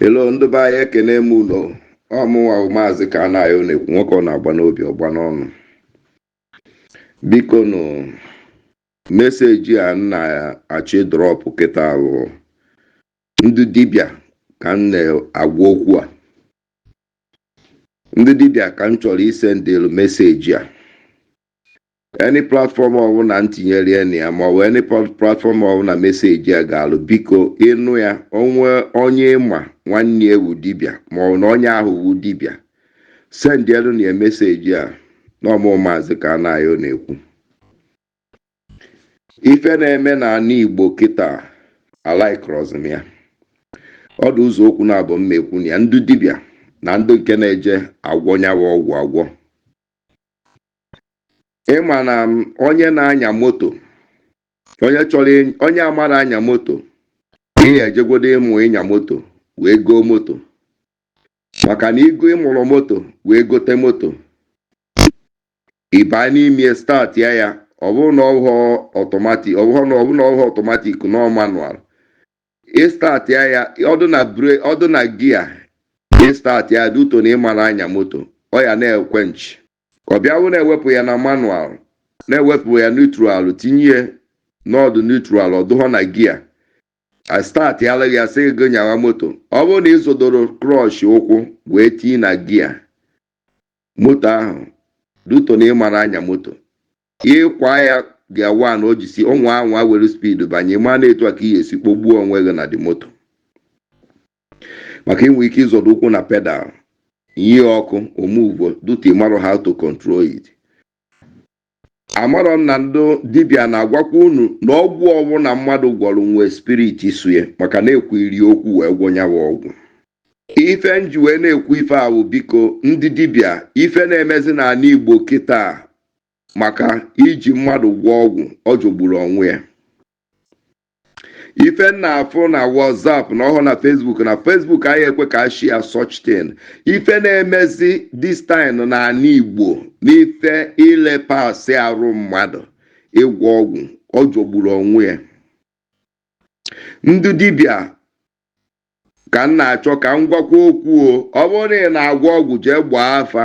hello ndị be anyị ekene m unu ọ mụnwa maazị Kanayo na-ekwu nwoke ọ na-agba n'obi ọ gba n'ọnụ biko nụ meseji a m na-achọ ịdrọpụ kịta bụ ndị dibịa ka m na-agwa okwu a ndị dibịa ka m chọrọ isendịlụ meseji a any platform ọbụla m tinyere ya na ya ma ọ bụ any plat- platform ọbụla meseji a ga-elu biko ị nụ ya o nwee onye ị ma nwanne ya wu dibịa ma ọ bụ na onye ahụ wu dibịa sendielu na ya meseji a na ọ mụ maazị Kanayo na-ekwu ife na-eme na ana igbo kịta alaikrọzi m ya ọ dị ụzọ okwu naabọ m ma-ekwu na ya ndị dibịa na ndị nke na-eje agwọ nyawa ọgwụ agwọ ị ma na onye na-anya moto onye chọrọ onye amarọ anya moto i ya-ejegodo ịmụ ịnya moto wee goo moto maka na i go- ị mụrọ moto wee gote moto ị baa n'ime start ya ya ọ bụrụ na ọ wụhọ ọtọmatik ọ bụrụ na ọ bụ na ọ wụhọ ọtọmatik na ọ manual ị start ya ya ọ dụ na bre- ọ dụ na gia ị start ya due to na ị marọ anya moto ọ ya na-equench ọ bịa wụ na e wepụ ya na manual na e wepụ ya neutral tinye ya na ọ dụ neutral ọ dụhọ na gia a startịalụ gị ya sị gị nyawa moto ọ bụrụ na ị zọdoro clutch ụkwụ wee tinye na gia moto ahụ due to na ị marọ anya moto ị kwaa ya gia wan o jisi ụmụ anwa were speed banye ị ma na etu a ka ị ga-esi kpọgbuo onwe gị na the moto maka i nwe ike ịzọdo ụkwụ na pedal ihe ọkụ o muvuo due to ị marọ how to control it amarọ m na ndị dibịa na-agwakwa unu na ọgwụ ọwụna mmadụ gwọrọ nwe spirit so ya maka na e kwuru ya okwu wee gwọ nyawa ọgwụ ife m ji wee na-ekwu ife ahụ biko ndị dibịa ife na-emezi n'ala igbo kịta maka iji mmadụ gwọọ ọgwụ ọ jọgburu onwe ya ife m na-afụ na whatsapp na ọ wụhọ na facebook na facebook anahị ekwe ka a share such thing ife na-emezi this time n'ala igbo n'ife ilepasị arụ mmadụ ịgwọ ọgwụ ọ jọgburu onwe ya ndị dibịa ka m na-achọ ka m gwakwa okwu o ọ bụrụ na ị na-agwọ ọgwụ jee gbaa afa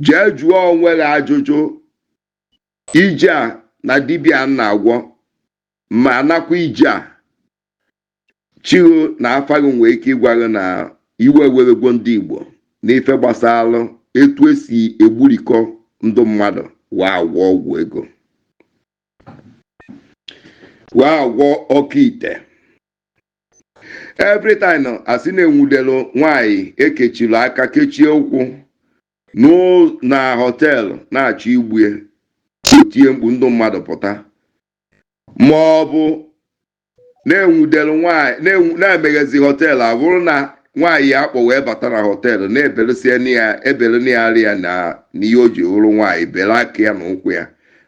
jee jụọ onwe gị ajụjụ ije a na dibịa a na-agwọ ma anakwa ije a chigho na afa gị nwee ike ịgwa gị na iwe ewegwo ndị igbo n'ife gbasara etu esi egburikọ ndụ mmadụ wee agwọ ọgwụ ego wee agwọ oke ite every time a sị na e nwudelu nwanyị e kechiri aka kechie ụkwụ na họteelụ na-achọ igbu e o tie mkpu ndị mmadụ pụta ma ọ bụ na e nwudere nwaanyị na e meghezi họteelụ abụrụ na nwaanyị ya a kpọ wee bata na họteelụ na e beresie ya ebere na ya ya na ihe o ji hụrụ nwaanyị bere aka ya na ụkwụ ya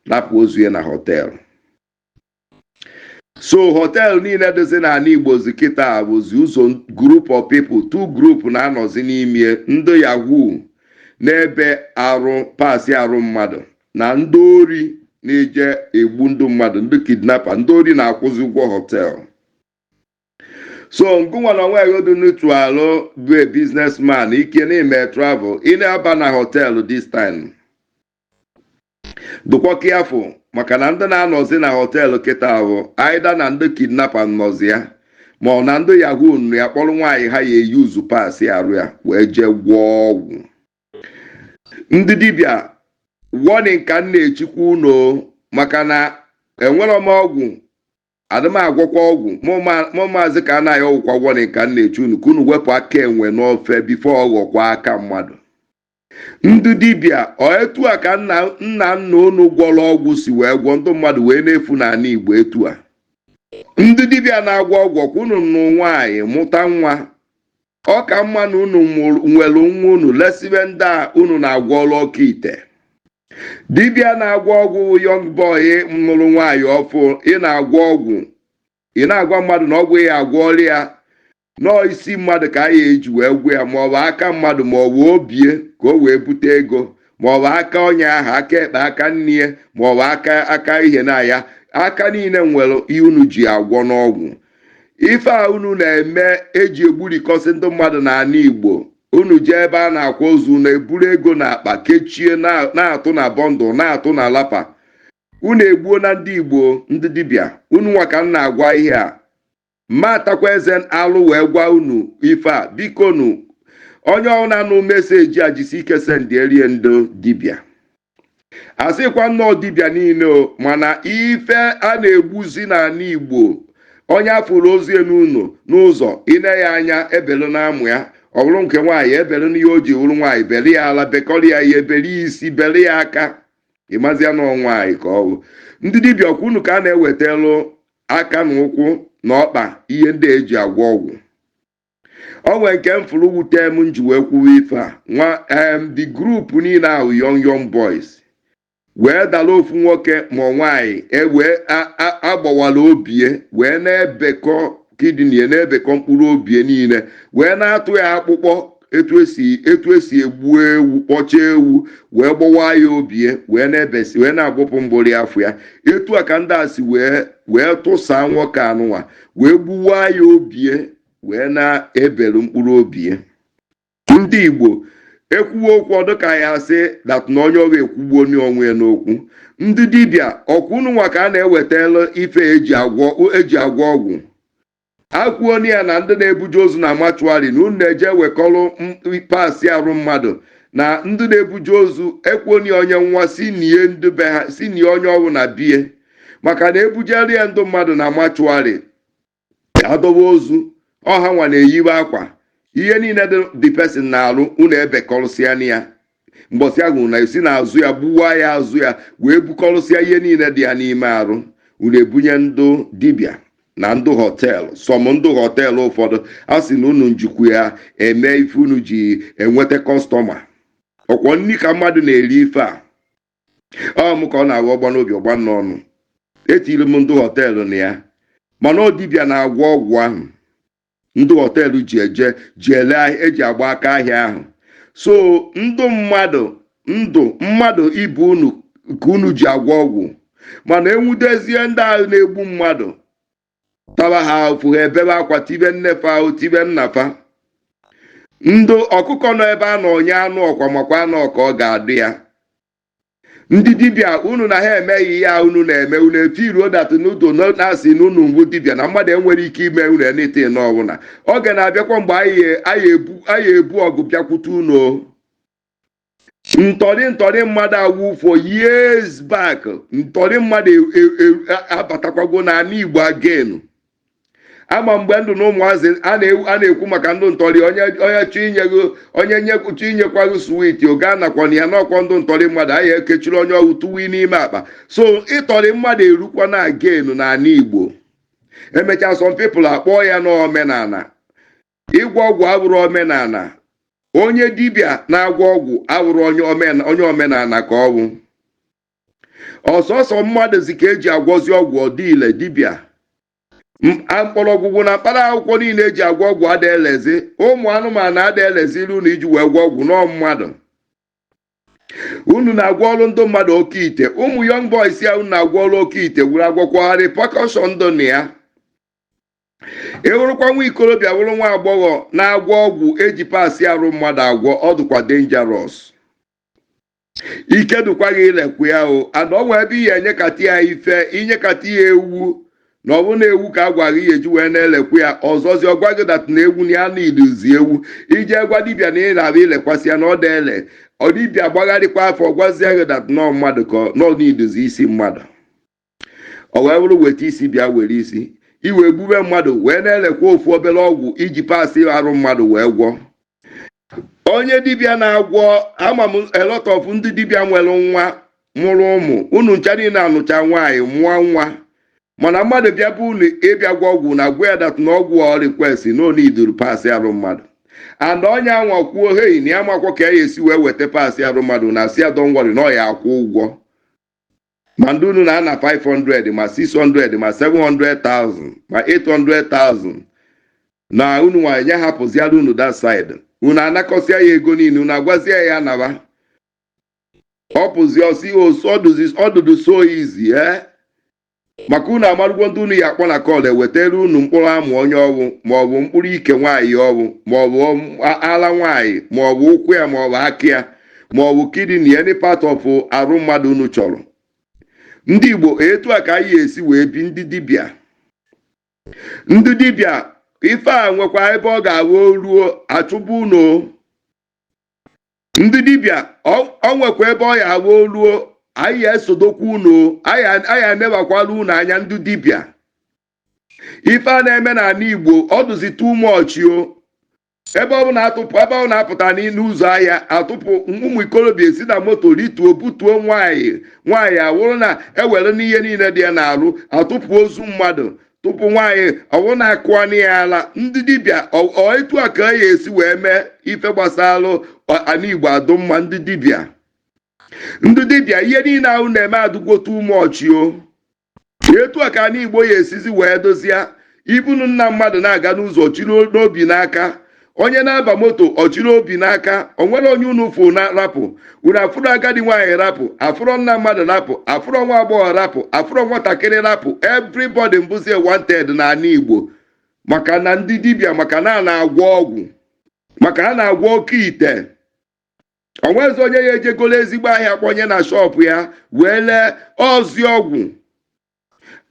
rapụ ozu ya na họteelụ so họteelụ niile dịzi n'ala igbozi kịta bụzi ụzọ group of people two group na-anọzi n'ime ndị yahoo na-ebe arụ paasị arụ mmadụ na ndị ori na-eje egbu ndị mmadụ ndị kidnapa ndị ori na-akwụzi ụgwọ họteelụ so ngụnwa na onwe gị dị neutral bụ a businessman nke na-eme travel ị na-aba na họteelụ this time dụkwa careful maka na ndị na-anọzi na họteelụ kịta ahụ either na ndị kidnapa nọzi ya ma ọ na ndị yahoo nọ ya kpọrọ nwaanyị ha ya-e use paasị arụ ya wee jee gwọọ ọgwụ ndị dibịa warning ka m na-echikwa unu maka na enwerọ m ọgwụ adị m agwọkwa ọgwụ mụ maazị ka anaghị ọgwụkwa warning ka m na-echi unu ka unu wepụ aka enwe n'ofe before ọ ghọkwa aka mmadụ ndị dibịa ọ etu a ka nna nna nna unu gwọrọ ọgwụ si wee gwọ ndị mmadụ wee na-efu n'ala igbo etu a ndị dibịa na-agwọ ọgwụ kwa unu nụọ nwaanyị mụta nwa ọ ka mma na unu mụrụ- nwere nwa unu lesibe ndị a unu na-agwọrọ oke ite dibịa na-agwọ ọgwụ wụ young boy nụrụ nwaanyị ọfụụ ị na-agwọ ọgwụ ị na-agwa mmadụ na ọgwụ ị ya-agwọrọ ya na ọọ isi mmadụ ka a ya-eji wee gwọ ya ma ọ bụ aka mmadụ ma ọ bụ obie ka o wee bute ego ma ọ bụ aka onye ahụ aka ekpe aka nni ya ma ọ bụ aka aka ihe na ya aka niile nwere ihe unu ji agwọ n'ọgwụ ife a unu na-eme eji egburikọsị ndị mmadụ n'ala Igbo unu jee ebe a na-akwa ozu na-eburu ego n'akpa kechie na- na-atụ na bundle na-atụ na lapa unu egbuona ndị Igbo ndị dibịa unu nwa ka m na-agwa ihe a mma atakwa eze alụ wee gwa unu ife a biko nu onye ọbụla na-anụ meseji a jisi ike sendierie ndị dibịa asịkwa na ọ dibịa niile o mana ife a na-egbuzi n'ala igbo onye afụrụ ozu ya n'ụlọ n'ụzọ ine ya anya ebelu na amụ ya ọ bụrụ nke nwaanyị ebelu n'ihe o ji wụrụ nwaanyị bere ya ala bekọrọ ya ihe bere ya isi bere ya aka ịmazia na ọ nwaanyị ka ọ bụ ndị dibịa ọkwa unu ka a na-ewetalụ aka na ụkwụ na ọkpa ihe ndị eji agwọ ọgwụ o nwere nke m fụrụ wute m m ji wee kwuwe ife a nwa em the group niile ahụ young young boys wee dara ofu nwoke ma ọ nwaanyị ewee agbawara obie wee na-ebekọ kidney na-ebekọ mkpụrụ obie niile wee na-atụ ya akpụkpọ etu esi etu esi egbu ewu kpọcha ewu wee gbọwa ya obie wee na-ebesi wee na-agbụpụ mgbori afọ ya etu a ka ndị a si wee wee tụsaa nwoke anụnwa wee gbuwa ya obie wee na-ebelu mkpụrụ obie ndị igbo ekwuwe okwu ọ dụ ka a ya-asị that na onye ọ wụ ekwugbuo onwe ya n'okwu ndị dibịa ọkwa unu nwa ka a na-ewetala ife eji agwọ eji agwọ ọgwụ ekwuoni ya na ndị na-ebuje ozu na mortuary na unu na-eje wekọrọ parts arụ mmadụ na ndị na-ebuje ozu ekwuoni ya onye nwa si nie ndị be ha si nie onye ọ wụ na bie maka na ebujere ya ndị mmadụ na mortuary adọwa ozu ọ ha nwa na-eyiwe akwa ihe niile dị the person n'arụ unu ebekọrụsịa na ya mbọsị a hụrụ na esi n'azụ ya gbuwa ya azụ ya wee bukọrụsịa ihe niile dị ya n'ime arụ unu ebunye ndụ dibịa na ndụ họteelụ some ndụ họteelụ ụfọdụ a sị na unu njikwa ya eme ife unu ji enweta kọstọma ọkwa nri ka mmadụ na-eri ife a ọ m ka ọ na-aghọ ọgba n'obi ọgba n'ọnụ etiri m ndụ họteelụ na ya mana ọ dibịa na-agwọ ọgwụ ahụ ndị họteelụ ji eje ji ele eji agba aka ahịa ahụ so ndụ mmadụ ndụ mmadụ ibe unu ka unu ji agwọ ọgwụ mana enwudezie ndị ahụ na-egbu mmadụ taba ha ụfụ ha ebebe akwa tibe nne fa ahụ tibe nna fa ndụ ọkụkọ nọ ebe a na onye anụ ọkwa makwa na ọ ka ọ ga-adị ya ndị dibịa unu na ha emeghị ihe a unu na-eme unu efeeluo that n'udo na-asị na unu wụ dibịa na mmadụ enwere ike ime unu anything ọbụla oge na-abịakwa mgbe anyị ebu ọgụ bịakwute unu ntọrị ntọrị mmadụ awụ for years back ntọrị mmadụ e, e, e, abatakwago n'ala Igbo again ama mgbe m dụ na ụmụazị a na-ekwu maka ndụ ntọrị onye onye chọọ inye ghị onye nyekwuchi inyekwa ghị sweet o gị anakwana ya n'ọkwa ndụ ntọrị mmadụ a ya ekechiri onye ọwụ tụwa n'ime akpa so ịtọrị mmadụ erukwa na-aga enu n'ala igbo emechaa some people akpọọ ya n'omenala ịgwọ ọgwụ abụrụ omenala onye dibịa na-agwọ ọgwụ abụrụ onye omenala ka ọ bụ ọ sọsọ mmadụ zi ka eji agwọzi ọgwụ ọ dị ile dibịa M- a- mkpọrọgwụgwụ na mkpara akwụkwọ niile eji agwọ ọgwụ ada elezi ụmụ anụmanụ ada elezi ilu unu iji wee gwọ ọgwụ na ọ mmadụ unu na-agwọrụ ndị mmadụ oke ite ụmụ young boys a unu na-agwọrụ oke ite wuru agwọkwagharị pakọshọn ndụ na ya ịwụrụkwa nwa ikorobịa wụrụ nwa agbọghọ na-agwọ ọgwụ eji parts arụ mmadụ agwọ ọ dịkwa dangerous ike dụkwa gị ilekwu ya o ana ọ nwee ebe ị ya enyekata ya ife inyekata ya ewu na ọ bụrụ na ewu ka a gwara ị ya eji wee na-elekwu ya ọzọzi ọ gwa gị that na ewu na ya na needuzi ewu ije gwa dibịa na ị na-abụ ilekwasị ya na ọ da ele ọ dibịa gbagharịkwa afa ọ gwazie gị that na ọ mmadụ ka ọ na-needuzi isi mmadụ o wee bụrụ weta isi bịa were isi i wee gbube mmadụ wee na-elekwa ofu obere ọgwụ iji parts arụ mmadụ wee gwọọ onye dibịa na-agwọ ama m a lot of ndị dibịa nwere nwa mụrụ ụmụ unu ncha niile anụcha nwaanyị mụọ nwa mana mmadụ bịa be unu ịbịa gwọ ọgwụ na gwa ya that na ọgwụ ọ request na ọ needuru parts arụ mmadụ and onye anwa kwuo hei na ya amakwa ka ya esi wee weta parts arụ mmadụ na sị ya don't worry na ọ ya akwụ ụgwọ ma ndị unu na-ana 500 ma 600 ma 700,000 ma 800,000 na unu nwa enye hapụziara unu that side unu anakọsịa ya ego niile unu agwazie ya naba ọ pụzi ọ sị ọ dụdụ so easy ee maka unu amarụgwo ndị unu ya akpọ na call ewetara unu mkpụrụ amụ onye ọwụ maọbụ mkpụrụ ike nwaanyị ọwụ maọbụ ala nwaanyị maọbụ ụkwụ ya maọbụ aka ya ma ọ bụ kidney any part of arụ mmadụ unu chọrọ ndị igbo etu a ka e ya esi wee bi ndị dibịa ndị dibịa ife a nwekwa ebe ọ ga-awụ o ruo achụba unu ndị dibịa ọ nwekwa ebe ọ ya awụ o ruo a ya esodokwa unu a ya enebakwala unu anya ndị dibịa ife a na-eme n'ala igbo ọ dụzi too much o ebe ọ bụla atụpụ ebe ọ na-apụta n'ilo ụzọ ahịa atụpụ ụmụ ikorobịa esi na moto rituo butuo nwaanyị nwaanyị awụrụ na ewerena ihe niile dị ya n'arụ atụpụ ozu mmadụ tụpụ nwaanyị ọwụrụ na akụọna ya ala ndị dibịa ọ- ọ etu a ka e ya esi wee mee ife gbasara ana igbo adụ mma ndị dibịa ndị dibịa ihe niile ahụ na-eme adụgwo too much o etu a ka ana igbo ya esizi wee dozie ibunu nna mmadụ na-aga n'ụzọ chịrị obi n'aka onye na-aba moto ọ chịrị obi n'aka o nwere onye unu fụ na rapụ unu afụrọ agadi nwaanyị rapụ afụrọ nna mmadụ rapụ afụrọ nwa agbọghọ rapụ afụrọ nwatakịrị rapụ everybody bụzie wanted na ana igbo maka na ndị dibịa maka na a na-agwọ ọgwụ maka ha na-agwọ oke ite o nwezi onye ya eje golo ezigbo ahịa kpọnye na shọpụ ya wee lee ọzi ọgwụ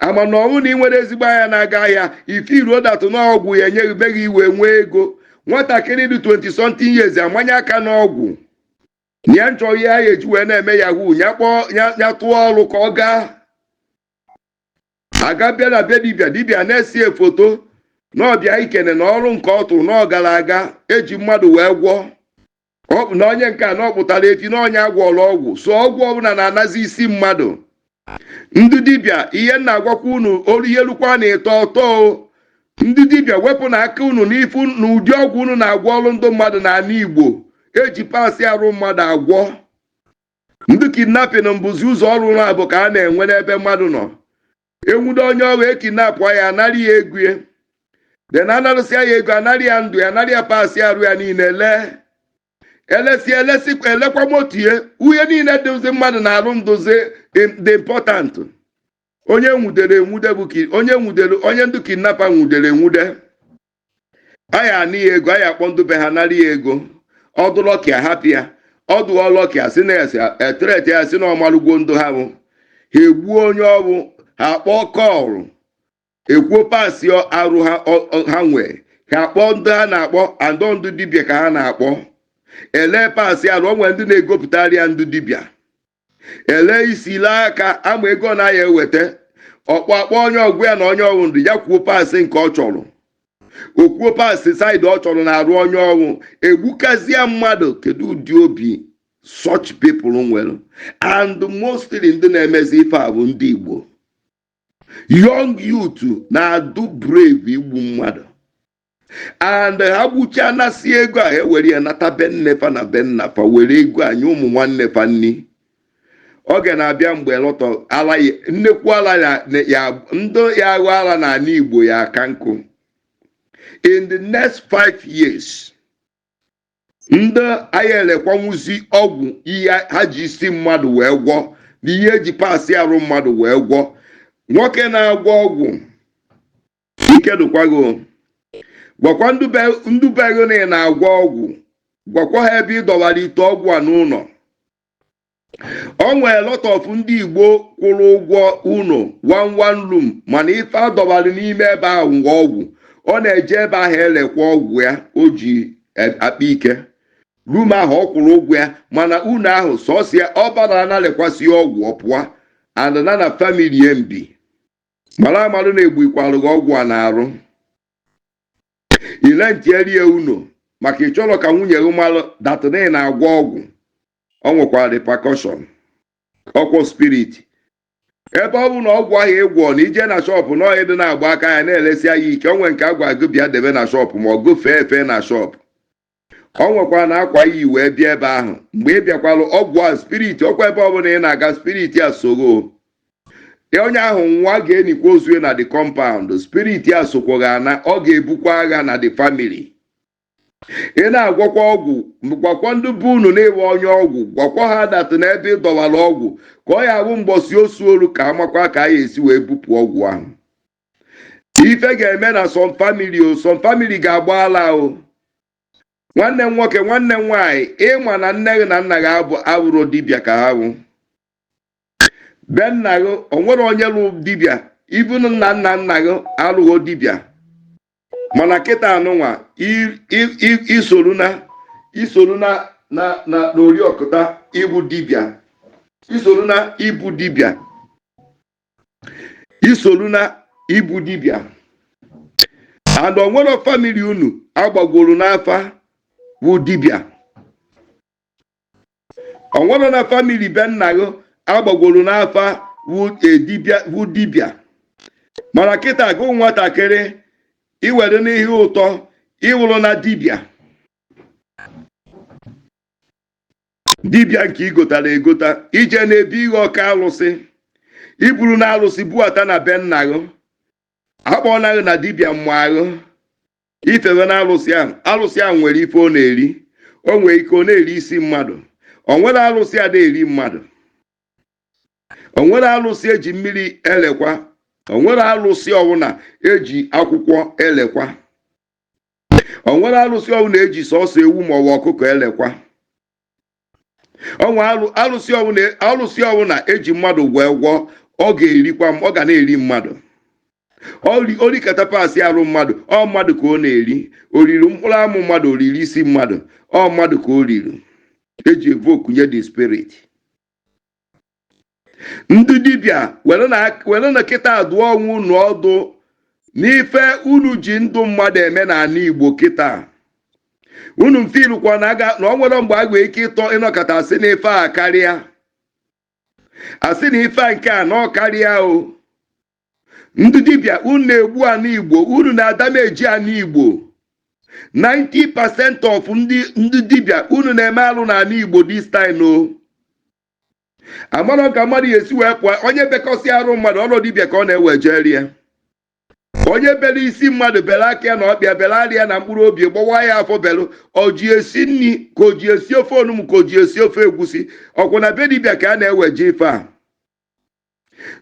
ama na ọnwụ na ị nwere ezigbo ahịa na-aga ahịa ife iruo datụ na ọgwụ ya enyeghị be gị i wee nwee ego nwatakịrị dị 20 something years amanye aka n'ọgwụ na ya na-achọ ihe a ya eji wee na-eme yahoo ya kpọọ ya ya tụọ ọrụ ka ọ gaa aga bịa na be dibịa dibịa na-ese ya foto na ọ bịa ikene na ọrụ nke ọ tụrụ na ọ gara aga eji mmadụ wee gwọọ ọ bụ na onye nke a na ọ kpụtara efi na onye agwọrọ ọgwụ so ọgwụ ọbụla na-anazi isi mmadụ ndị dibịa ihe m na-agwakwa unu olu ihe lukwa na ịtọ ọ tọ o. ndị dibịa wepụnụ aka unu n'ife na ụdị ọgwụ unu na-agwọrọ ndị mmadụ n'ala igbo eji parts arụ mmadụ agwọ ndị kidnapping bụzi ụzọ ọrụ unu bụ ka a na-enwe n'ebe mmadụ nọ enwude onye ọ wụ ekidnapụ ya anara ya ego ya then anarụsịa ya ego anara ya ndụ ya anara ya parts arụ ya niile lee elesi elesi elekwa moto ya ihe niile dịzi mmadụ n'arụ dụzi dị important onye nwudere enwude bụ onye nwudere onye ndụ kidnapper nwudere enwude a ya ana ya ego a ya akpọ ndụ be ha nara ya ego ọ dụ lucky ahapụ ya ọ dụrọ lucky asị na esi etret ya sị na ọ malụgwo ndụ ha bụ ha egbuo onye ọ bụ ha kpọọ call ekwuo parts arụ ha ọ- ọ- ha nwee ha kpọọ ndị ha na-akpọ and ndụ dibịa ka ha na-akpọ elee parts arụ o nwere ndị na-egopụtara ya ndụ dibịa elee isi elee aka ama ego na ya eweta ọ kpọ akpọ onye ọgwụ ya na onye ọ wụ ndụ ya kwuo parts nke ọ chọrọ o kwuo parts side ọ chọrọ n'arụ onye ọ wụ egbukazie mmadụ kedu ụdị obi such people nwere and mostly ndị na-emezi ife a bụ ndị Igbo young youth na-adụ brave igbu mmadụ and ha gbuchaa nasịa ego a ewere ya nata be nne fa na be nna fa were ego a nye ụmụ nwanne fa nni oge na-abịa mgbe a lot of ala ya- nnekwu ala ya- na- ya ndị ya aghọ ala n'ala igbo ya aka nkụ in the next five years ndị anyị elekwanwuzi ọgwụ ihe ha ji isi mmadụ wee gwọ na ihe eji parts arụ mmadụ wee gwọ nwoke na-agwọ ọgwụ ike dụkwa gị gwakwa ndị be gị na ị na-agwọ ọgwụ gwakwa ha ebe ị dọwara ite ọgwụ a n'ụnọ o nwere lot of ndị igbo kwụrụ ụgwọ ụnọ one one room mana ife adọbara n'ime ebe ahụ ngwa ọgwụ ọ na-eje ebe ahụ elekwa ọgwụ ya o ji e, akpa ike room ahụ ọ kwụrụ ụgwọ ya mana ụnọ ahụ sọsọ ya ọ bara na-elekwasịa ọgwụ ọ pụọ and na na family mbi mara amalụ na-egbuikwalụ gị ọgwụ a na-arụ ile ntierie unu maka ị chọrọ ka nwunye gị malụ that na ị na-agwọ ọgwụ o nwekwara repercussion ọkwa spirit ebe ọ bụ na ọgwụ ahụ ị gwọ na i je na shop na ọyị dị na-agba aka ya na-elesi ahịa ike o nwe nke a gwa gị bịa debe na shop ma ọ bụ fee efe na shop o nwekwara n'akwa i yi wee bịa ebe ahụ mgbe ị bịakwalụ ọgwụ a spirit ọkwa ebe ọbụla ị na-aga spirit a so gị onye ahụ nwa ga-enikwa ozu na the compound spirit a sokwa gị ana ọ ga-ebukwa agha na the family ị na-agwọkwa ọgwụ gwakwa ndị be unu na ị wụ onye ọgwụ gwakwa ha that n'ebe ị dọwara ọgwụ ka ọ ya-abụ mbọsị osu olu ka a makwa ka a ya-esi wee bupụ ọgwụ ahụ ife ga-eme na some family o some family ga-agba ala o nwanne m nwoke nwanne m nwaanyị ị ma na nne gị na nna gị abụrọ dibịa ka ha bụ be nna gị o nwere onye lụ dibịa even na nna nna gị alụghị dibịa mana kịta a nụnwa i soro na i soro na na na n'oriọkụta ịbụ dibịa i soro na ịbụ dibịa i solu na ịbụ dibịa and o nwerọ family unu agbagworo n'afa bụ dibịa o nwerọ na family be nna gị agbagworo n'afa bụ e, dibịa bụ dibịa mana kịta gị nwatakịrị i were n'ihe ụtọ ị hụrụ na dibịa dibịa nke i gotara egota i je n'ebe ihe ọka alụsị i buru na alụsị buata na be nna gị a kpọna gị na dibịa ị maghị ife wụ na alụsị ahụ alụsị ahụ nwere ife ọ na-eri o nwere ike ọ na-eri isi mmadụ o nwere alụsị a na-eri mmadụ o nwere alụsị eji mmiri elekwa o nwere alụsị ọ bụ na eji akwụkwọ elekwa o nwere alụsị ọ bụ na eji sọsọ ewu ma ọ bụ ọkụkọ elekwa o nwe alụsị ọ bụ na alụsị ọ bụ na eji mmadụ gwọ egwọ ọ ga-erikwa m- ọ ga na-eri mmadụ o ri- o rikata parts arụ mmadụ ọ mmadụ ka ọ na-eri o riri mkpụrụ amụ mmadụ o riri isi mmadụ ọ mmadụ ka o riri eji evoke nye the spirit ndị dibịa were na kịta dụọ onwe unu ọdụ n'ife unu ji ndụ mmadụ eme n'ala igbo kịta unu mfilukwa na ọ nwere mgbe a nwee ike ịtọ ịnọkata asị na ife a akarịa asị na ife a nke a na ọ karịa o ndị dibịa unu na-egbu ala igbo unu na-adameji ala igbo 90% of ndị dibịa unu na-eme alụ n'ala igbo this time o amarọ ka mmadụ ya esi wee pụọ onye bekọsịa arụ mmadụ ụnọ dibịa ka ọ na-ewejere ya onye bere isi mmadụ bere aka ya na ọkpa ya bere ara ya na mkpụrụ obi gbawaa ya afọ bere oji esi nri ka oji esi ofe onugbu ka oji esi ofe egwusi ọkwa na be dibịa ka a na-eweje ife a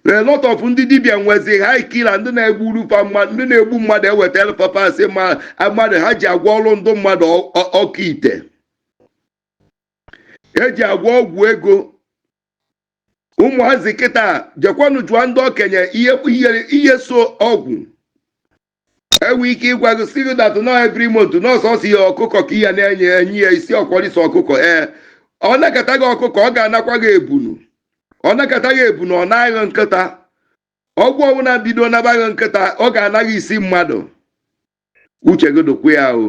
a lot of ndị dibịa nwezi hire killer ndị na-egburu fa mmadụ ndị na-egbu mmadụ ewetara fa parts mmadụ ha ji agwọrọ ndị mmadụ ọ- ọ- oke ite eji agwọ ọgwụ ego ụmụazị kịta jekwanụ jụọ ndị okenye ihe ihe ihe so ọgwụ enwe ike ịgwa gị sị gị that na every month na ọ sọsọ ihe ọkụkọ ka ị ya na-enye enye ya isi ọkwa isi ọkụkọ ee ọ nakata gị ọkụkọ ọ ga-anakwa gị ebunu ọ nakata gị ebunu ọ naa gị nkịta ọgwụ ọbụla bido naba gị nkịta ọ ga-ana gị isi mmadụ uche gị dịkwa ya o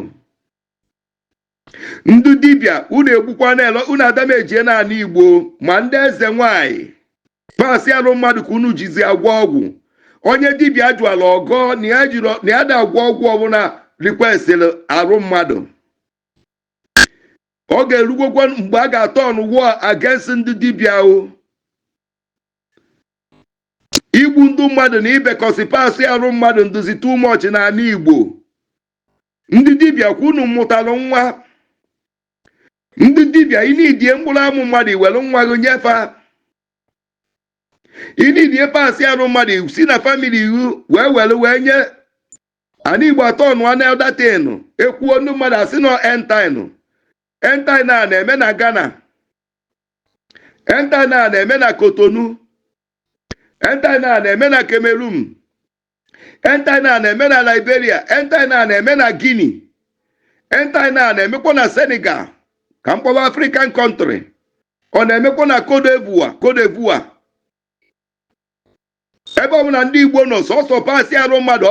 ndị dibịa unu egbukwa na-ele unu adamejie n'ala igbo ma ndị eze nwanyị parts arụ mmadụ ka unu jizi agwọ ọgwụ onye dibịa jụara ọ gọọ na ya jiri na ya ada agwọ ọgwụ ọbụla rikwesịrị arụ mmadụ ọ ga-erukwọkwa mgbe a ga-turn war against ndị dibịa o igbu ndị mmadụ na ibekọsị parts arụ mmadụ adịzi too much n'ala igbo ndị dibịa kwa unu mụtalụ nwa ndị dibịa i needie mkpụrụ amụ mmadụ i were nwa gị nye fa i needie parts arụ mmadụ si na family gị wee were wee nye ana igbo atọ nụọ na eldatin ekwuo ndị mmadụ asị nọ entin entin a na-eme na ghana entin a na-eme na cotonou entin a na-eme na cameroon entaina na-eme na liberia entaina na-eme na guinea entaina na-emekwa na senegal ka m kpọwa african country ọ na-emekwa na cote d'ivoire cote d'ivoire ebe ọ bụla ndị igbo nọ sọsọ parts arụ mmadụ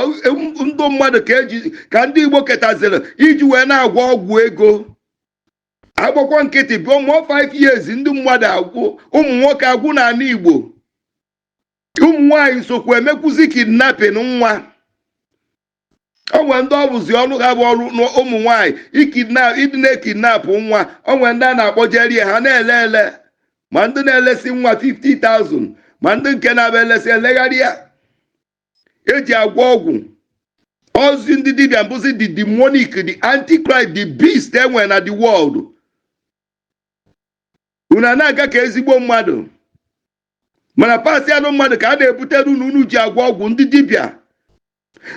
ndụ mmadụ ka eji ka ndị igbo ketaziri iji wee na-agwọ ọgwụ ego agbakwọọ nkịtị before 5 years ndị mmadụ agwụ ụmụ nwoke agwụ n'ala igbo ụmụ nwaanyị sokwa emekwuzi kidnapping nwa o nwere ndị ọ bụzi ọrụ ha bụ ọrụ na ụmụ nwaanyị ikidna ịdị na-ekidnapụ nwa o nwere ndị a na-akpọjere ya ha na-ele ele ma ndị na-elesi nwa 50,000 ma ndị nke na-abụ elesi elegharịa eji agwọ ọgwụ ozi ndị dibịa bụzi the demonic the antichrist the beast e nwe na the world unu ana-aga ka ezigbo mmadụ mana parts anụ mmadụ ka a na-ebutere unu unu ji agwọ ọgwụ ndị dibịa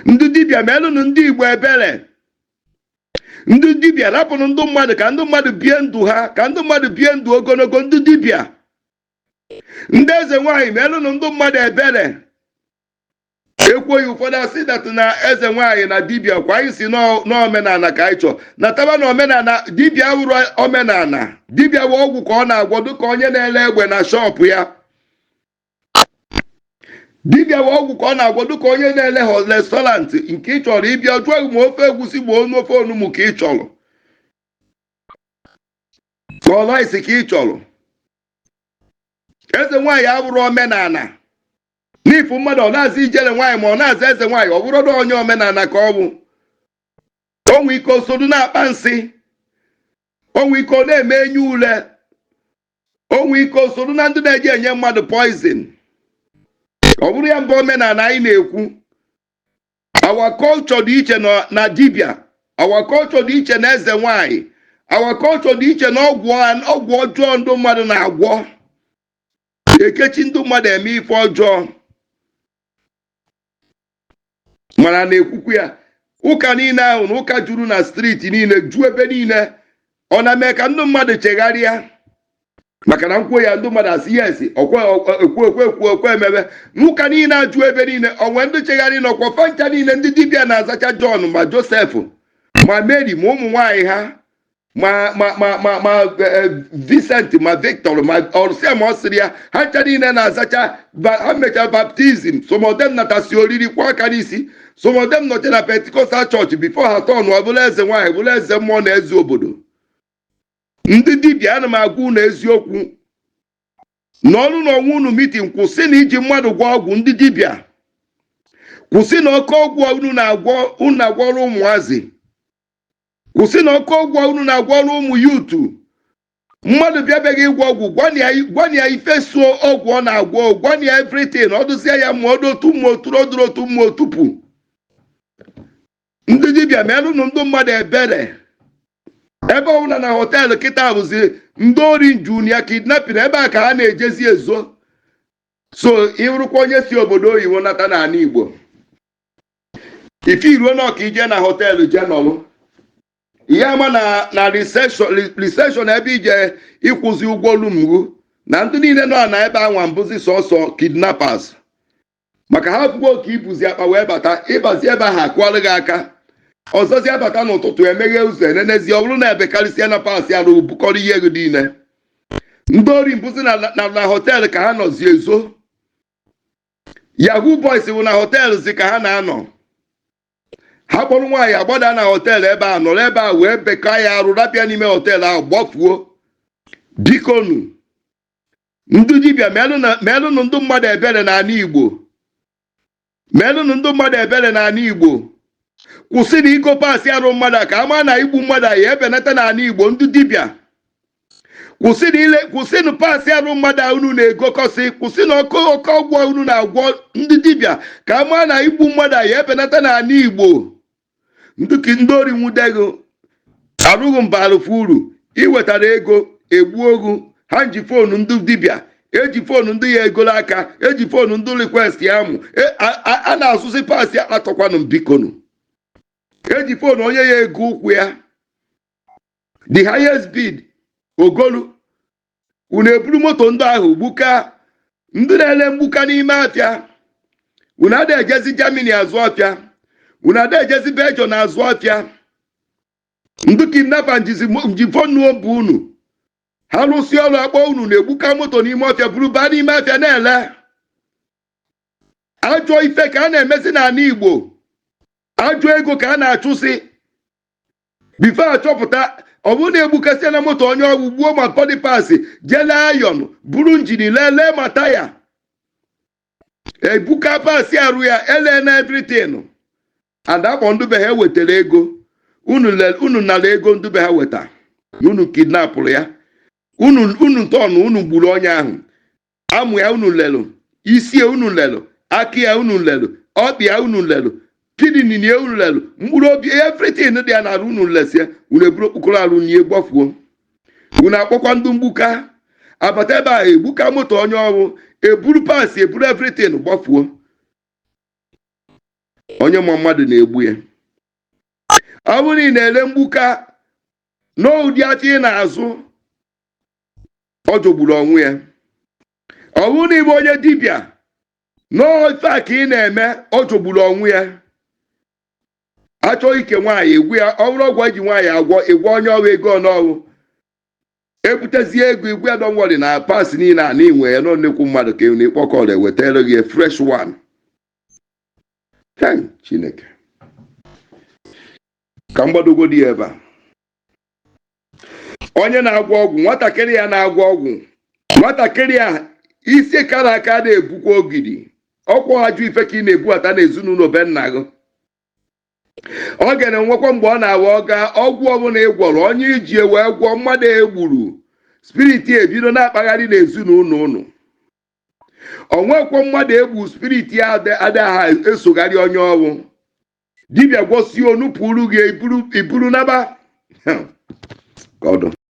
ndị dibịa melụnụ ndị igbo ebere ndị dibịa rapụnụ ndị mmadụ ka ndị mmadụ bie ndụ ha ka ndị mmadụ bie ndụ ogologo ndị dibịa ndị eze nwaanyị melụnụ ndị mmadụ ebere ekwoghị ụfọdụ asị that na eze nwaanyị na dibia kwa anyị si n'omenala ka anyị chọọ nataba na omenala dibia awụrọ omenala dibia wụ ọgwụ ka ọ na-agwọ dịka onye na-ele efe na shop ya dibịa wụ ọgwụ ka ọ na-agwọ dịka onye na-ele na restaurant nke ị chọrọ ị bịa a jụọ gị ma ofe egwusi ma onu ofe onugbu ka ị chọrọ ka ọ rice ka ị chọrọ eze nwaanyị abụrọ omenala n'ifu mmadụ ọ na-aza ijele nwaanyị ma ọ na-aza eze nwaanyị ọ bụrọ na onye omenala ka ọ bụ o nwe ike o sodu na-akpa nsị o nwe ike ọ na-eme enyi ule o nwe ike o sodu na ndị na-eji enye mmadụ poison ọ bụrọ ya mba omenala anyị na-ekwu our culture dị iche na- na dibia our culture dị iche na eze nwanyị our culture dị iche na ọgwụ ọgwụ ọjọọ ndị mmadụ na-agwọ ekechi ndị mmadụ eme ife ọjọọ mana na-ekwukwu ya ụka niile ahụ na ụka juru na street niile ju ebe niile ọ na-eme ka ndị mmadụ chegharịa maka na m kwuo ya ndị mmadụ asị ya esi okwe ekwe ekwe okwe emebe n'ụka niile eju ebe niile o nwere ndị chegharịnụ ọkwa fa ncha niile ndị dibịa na-azacha Jọn ma Josef ma Meri ma ụmụ nwaanyị ha ma ma ma ma ma eh, Vincent ma Victor ma ọrụsịa ma ọ sịrị ya ha ncha niile na-azacha ha mecha baptism some of them natasi oriri kwa aka n'isi some of them nọcha na Pentecostal church before ha tọnụọ bụlụ eze nwaanyị bụlụ eze mmụọ na eze obodo ndị dibịa ana m agwa unu eziokwu nọrọnụ onwe unu meeting kwụsịnụ iji mmadụ gwọ ọgwụ ndị dibịa kwụsịnụ oke ọgwụ unu na-agwọ unu na-agwọrọ ụmụazị kwụsịnụ oke ọgwụ unu na-agwọrọ ụmụ yutu mmadụ bịa be ghị ịgwọ ọgwụ gwana ya- gwana ya ife so ọgwụ ọ na-agwọ gwana ya evritin ọ dụzie ya ma ọ dị otu mma o turu ọ dụrụ otu mma o tupu ndị dibịa meerụnụ ndị mmadụ ebere ebe ọbụla na họteelụ kịta bụzi ndị ori nju na ya kidnapin ebe a ka ha na-ejezi ezo so ị bụrụkwa onye si obodo oyibo nata n'ana igbo ife i ruo n'ọka i je na họteelụ je nọlụ ihe ama na na riseshọn ebe i je ịkwụzi ụgwọ rum ghụ na ndị niile nọ na ebe anwa mbụzi sọsọ kidnappers maka ha fụgo ka i buzi akpa wee bata ị bazi ebe ahụ akụọlụ gị aka ọzọzi abata n'ụtụtụ emeghe ụzọ enenezi ọ bụrụ na ebekarịsịana paasị arụ bukọrọ ihe gị niile ndị ori mbụzi na na- na họteelụ ka ha nọzi ezo yahoo boys wụ na họteelụ zi ka ha na-anọ ha kpọrọ nwaanyị agbada na họteelụ ebe a nọrọ ebe a wee bekaa ya arụ rapụ ya n'ime họteelụ ahụ gbafuo bikonu ndị dibịa meelụnụ ndị mmadụ ebere n'ana igbo meelụnụ ndị mmadụ ebere n'ana igbo kwụsịnụ igo paasị arụ mmadụ ka a ma na igbu mmadụ ya ebenata n'ana igbo ndị dibịa kwụsịnụ ile kwụsịnụ paasị arụ mmadụ a unu na-egokọsị kwụsịnụ oke ọgwụ a unu na-agwọ ndị dibịa ka a maa na igbu mmadụ a ya ebenata n'ana igbo nduki ndị ori nwude ghị arụ ghị mbaalụ fa uru i wetara ego egbuo ghụ ha nji foonu ndị dibịa eji foonu ndị ya egolu aka eji foonu ndị rikwestị amụ E- a- a- a na-asụsị paasị padọnkwanụ m bikonu eji foonu onye ya ego ụkwụ ya the highest bid o golu unu eburu moto ndị ahụ gbuka ndị na-ele mgbuka n'ime afịa unu ada ejezi germany azụ afịa unu ada ejezi belgium azụ afịa ndị kidnapa nji fonu nọmba unu ha lụsịa ọrụ akpọ unu na-egbuka moto n'ime ọfịa buru baa n'ime afịa na-ele ajọ ife ka a na-emezi n'ana igbo ajọ ego ka a na-achụsị bifo achọpụta ọ bụrụ na egbukasịana moto onye ọ bụ gbuo ma bọdị pasị jee lee ayọn buru njini lee lee ma taya egbuka pasị arụ ya elee na evritin adakpọ ndị be ha wetara ego unu le- unu nara ego ndị be ha weta na unu kidnapụrụ ya unu unu ntọnụ unu gburu onye ahụ amụ ya unu lelụ isi ya unu lelụ aka ya unu lelụ ọkpa ya unu lelụ kidney ya unu lelụ mkpụrụ obi everything dị ya n'arụ unu lesie unu eburu okpokoro arụ nye gbafuo unu akpọkwa ndị mgbuka abata ebe a egbuka moto onye ọ wụ eburu parts eburu everything gbafuo onye ma mmadụ na-egbu ya ọ bụrụ na ị na-ele mgbuka n'ụdị ahịa ị na-azụ ọ jọgburu onwe ya ọ bụrụ na ị bụ onye dibịa n'ọ ife a ka ị na-eme ọ jọgburu onwe ya a chọọ ike nwaanyị ị gwọọ ya ọ bụrụ ọgwụ e ji nwaanyị agwọ ị gwọọ onye ọ wụ ego one ọ wụ ebutezie ego ị gwọọ ya don't worry na parts niile a n'inwe ya nọ nnekwu mmadụ ka na ịkpọkọrọ ewetara gị fresh one Hey, chineke ka m gbadogodi ya ebe a onye na-agwọ ọgwụ nwatakịrị ya na-agwọ ọgwụ nwatakịrị a isi kara aka na-ebukwa ogidi ọ kwa ajọ ife ka ị na-ebughata n'ezinụlọ be nna gị ọ ga na-enwekwa mgbe ọ na-awa ọga ọgwụ ọbụla ị gwọrọ onye i ji wee gwọọ mmadụ e gburu spirit ya ebido na-akpagharị n'ezinụlọ unu o nwekwa mmadụ e gbu spirit ya adịghị esogharị onye ọ wụ dibịa gwọsie o nupụrụ gị i buru i buru naba Hmm. ka ọ dụ